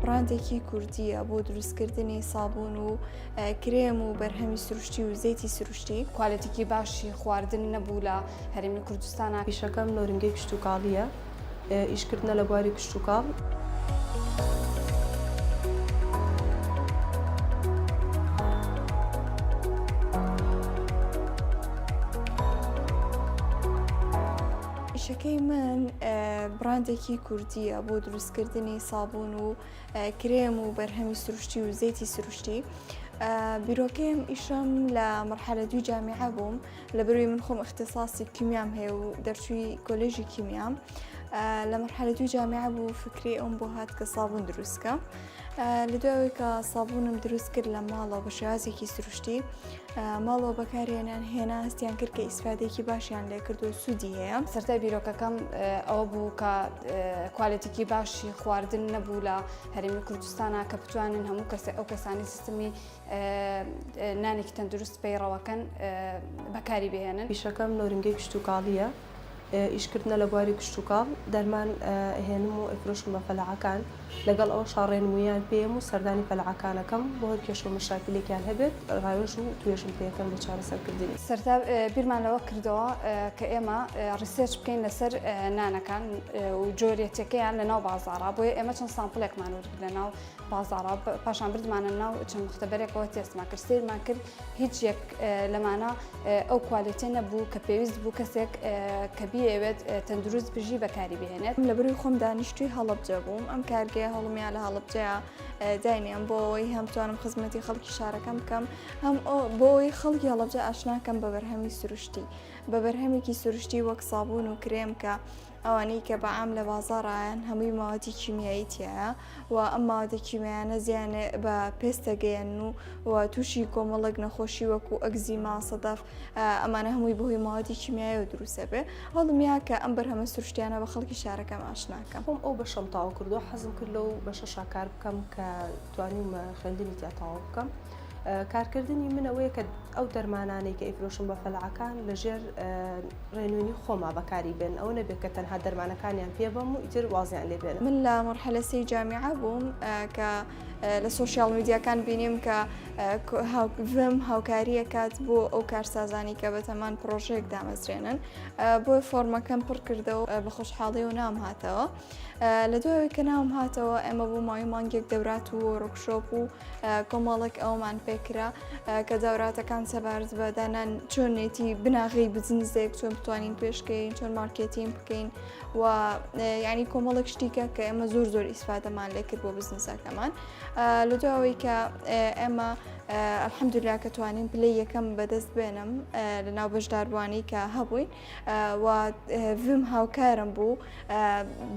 بڕاندێکی کوردییە بۆ دروستکردنی سابوون و کرێم و بەرهەمی سروشتی و زەیتی سروشتی کوالەتیکی باشی خواردن نەبوو لە هەرمی کوردستانە پیشەکەم نۆرنگەی کشتتوکاڵیە ئیشکردە لە بواری کشتتوکاڵ. ئیشەکەی من بڕاندێکی کوردیە بۆ دروستکردنی سابوون و کرێم و بەرهەمی سروشتی و زەیتی سروشتی بیرۆکەیم ئیشم لە مەرحەلە دوی جامیعە بووم لە بروی من خۆم اختصاصی کیمیام هەیە و دەرچووی کۆلێژی کیمیام لە مەرحەلە دوی جامیعە بوو فکری ئەوم بۆ هات کە سابوون دروستکە لە دوای ئەوەی کە سابوونم دروست کرد لە ماڵەوە بە شێوازێکی سروشتی ماڵەوە بەکارهێنان هێنا هەستیان کرد کە ئیسفادێکی باشیان لێ کرد و سوودی هەیە سەرای بیرۆکەکەم ئەوە بوو کە کوالەتێکی باشی خواردن نەبوو لە هەرمی کوردستانە کە بتوانن هەموو کەس ئەو کەسانی سیستمی نانێکی تەندروست پەیڕەوەکەن بەکاری بهێنن پیشەکەم نۆرنگەی کشتتوکاڵیە ئیشکردنە لە بواری کشتوکاڵ، دەرمان ئەهێنم و ئەیفرۆشم بە فەلاحەکان، لەگەڵ ئەوەشا ڕێنموویان پێیەم و سەردانی فەلاحەکان ئەکەم، بۆ هەر کێشە و مەشاکیلێکیان هەبێت ڕاوێژ و توێژم پێکەم لە چارەسەرکردنی. سەرەتا بیرمان لەوە کردەوە کە ئێمە ڕیسێرچ بکەین لەسەر نانەکان و جۆریەتیەکەیان لەناو بازاڕا، بۆیە ئێمە چەند سامپڵێکمان ورد لەناو بازاڕە پاشان بردمانە ناو چەند مختبەرێکەوە تێستمان کرد سیرمان کرد هیچ یەک لەمانە ئەو کوالێتێ نەبوو کە پێویست بوو کەسێک کە بیەوێت تەندروست بژی بەکاری بهێنێت لە بروی خۆم دانیشتوی هەڵبجە بووم ئەم کارگەیە هەڵمیا لە هەڵبجەیە داینیان بۆەوەی هەم توانم خزمەتی خەڵکی شارەکەم بکەم هەم بۆی خەڵکی هەڵبجە ئاشناکەم بە بەرهەمی سروشتی بە بەرهەمێکی سروشتی وەک سابوون و کرێم کە ئەوانەی کە بە عام لە بازاڕایەن هەمووی ماوەتی کیمیایی تیایە و ئەم ماوەتە کیمیانە زیانێ بە پێستەگەیەن و و تووشی کۆمەڵک نەخۆشی وەکو ئەگزی ماسەدەف ئەمانە هەمووی بەهۆی ماوەتی کیمیایی و دروسە بێ هەڵمیا کە ئەم بەرهەمە سروشتیانە بە خەڵکی شارەکەم ئاشناکەم خۆم ئەو بەشەم تاو کردو حەزم کرد لەو بەشە شاکار بکەم کە توانیم خوێندنی تیا تەواو بکەم کارکردنی من ئەوەیە کە ئەو دەرمانانەی کە ئیفرۆشم بە فەلعەکان لەژێر ڕێنوێنی خۆما بەکاری بێن ئەو نەبێت کە تەنها دەرمانەکانیان پێ بەم و ئیتر وازیان لێ بێن من لە مەرحەلەسی جامیعە بووم کە لە سوۆسیال میدیاکان بینیم کە هاوکم هاوکاریە کات بۆ ئەو کارسازانی کە بەتەمان پرۆژێک دامەزرێنن بۆ فۆرمەکەم پڕکردەوە بە خۆشحاڵی و نام هاتەوە. لە دوای ئەوەی کە ناوم هاتەوە ئێمە بۆ ماوەی مانگێک دەورات و ڕوکشۆپ و کۆمەڵێک ئەومان پێکرا کە داوراتەکان سەبارەت بە دانان چۆنێتی بناغی بزنزێک چۆن بتوانین پێشکەین چۆن مارکێتین بکەین و ینی کۆمەڵێک شتیکە کە ئێمە زۆر زۆر ئیسفادەمان لێکرد بۆ بزنسەکەمان لە دوایەوەی کە ئێمە ئەلحەمدولا کە توانین پلی یەکەم بەدەست بێنم لە ناو بەشداربووانی کە هەبووین و ڤم هاوکارم بوو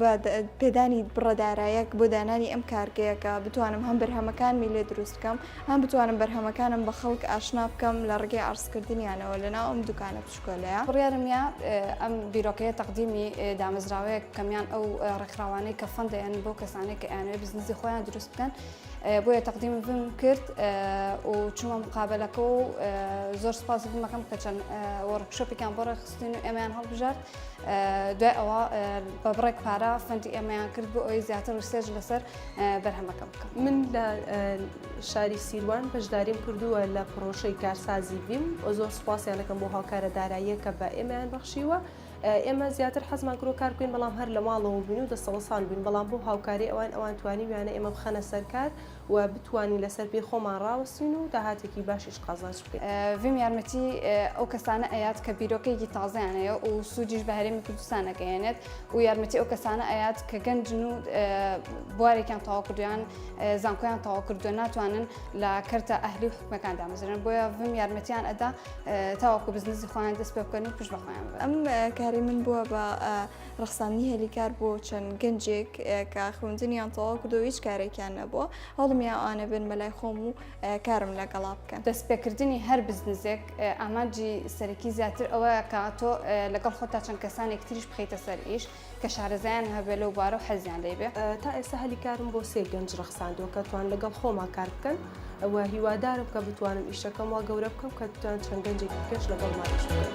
بە پێدانی بڕە دارایەک بۆ دانانی ئەم کارگەیەکە بتوانم هەم بەرهەمەکانمی لێ دروست بکەم هەم بتوانم بەرهەمەکانم بە خەڵک ئاشنا بکەم لە ڕگەی ئارسکردنیانەوە لە ناو ئەم دوکانە پشکۆلەیە بڕارمە ئەم بیرۆکەیە تەقدیمی دامەزراوەیە کەمیان ئەو ڕێکخراوانەی کە فەندیان بۆ کەسانێک کە ئەیانەوێت بزنزی خۆیان دروست بکەن بۆیە تەقدیمم کرد و چوومە مقابلەکە و زۆر سپاس بمەکەم کە چەند وەڕکشۆپێکیان بۆ ڕێخستین و ئێمەیان هەڵبژارد دوای ئەوە بە بڕێک پارە فەنتی ئێمەیان کرد بۆ ئەوی زیاتر و سێژ لەسەر بەرهەمەکە بکەم من لە شاری سیروان بەشداریم کردووە لە پرۆشەی کارسازی بیم و زۆر سپاسیانەکەم بۆ هاوکارە داراییە کە بە ئێمەیان بەخشیوە ئێمە زیاتر حەزمان کرۆ کار بکەین بەڵام هەر لە ماڵەوە بووین و دەسەڵسان بووین بەڵام بۆ هاوکاری ئەوان ئەوان توانی ویانە ئێمە بخەنە سەرکار و بتوانین لەسەر پێی خۆمان ڕاوەستین و داهاتێکی باشیش قازانج بکەین. ڤیم یارمەتی ئەو کەسانە ئەیات کە بیرۆکەیەکی تازەیان هەیە و سوودیش بە هەرێمی کوردستان ئەگەیەنێت و یارمەتی ئەو کەسانە ئەیات کە گەنجن و بوارێکیان تەواو کردویان زانکۆیان تەواو کردو ناتوانن لە کەرتە ئەهلی و حکومەکان دامەزرێن بۆیە ڤیم یارمەتیان ئەدا تاوەکو بزنزی خۆیان دەست پێ بکەن و پشت بەخۆیان ئەم کاری من بووە بە ڕخساندنی هەلیکار بۆ چەند گەنجێک کە خوندنیان تەواو کردو هیچ کارێکیان نەبووە هەڵمیان ئاە بن مەلای خۆم و کارم لەگەڵا بکەن دەست پێکردنی هەر بزنزێک ئامانجی سەرەکی زیاتر ئەوە کاتۆ لەگەڵ خۆتا چەند کەسانێک تریش بخیتە سەر ئیش کە شارەزایان هەبێت لەو بارە و حەزیان لێی بێت. تا ئێستا هەلی کارم بۆ سێ گەنج ڕەخساندووە کە توان لەگەڵ خۆما کار بکەن و هیوادارم کە بتوانم ئیشەکەم وا گەورە بکەم کە بتوان چەند گەنجێکی دیکەش لەگەڵما ئیش بکەن.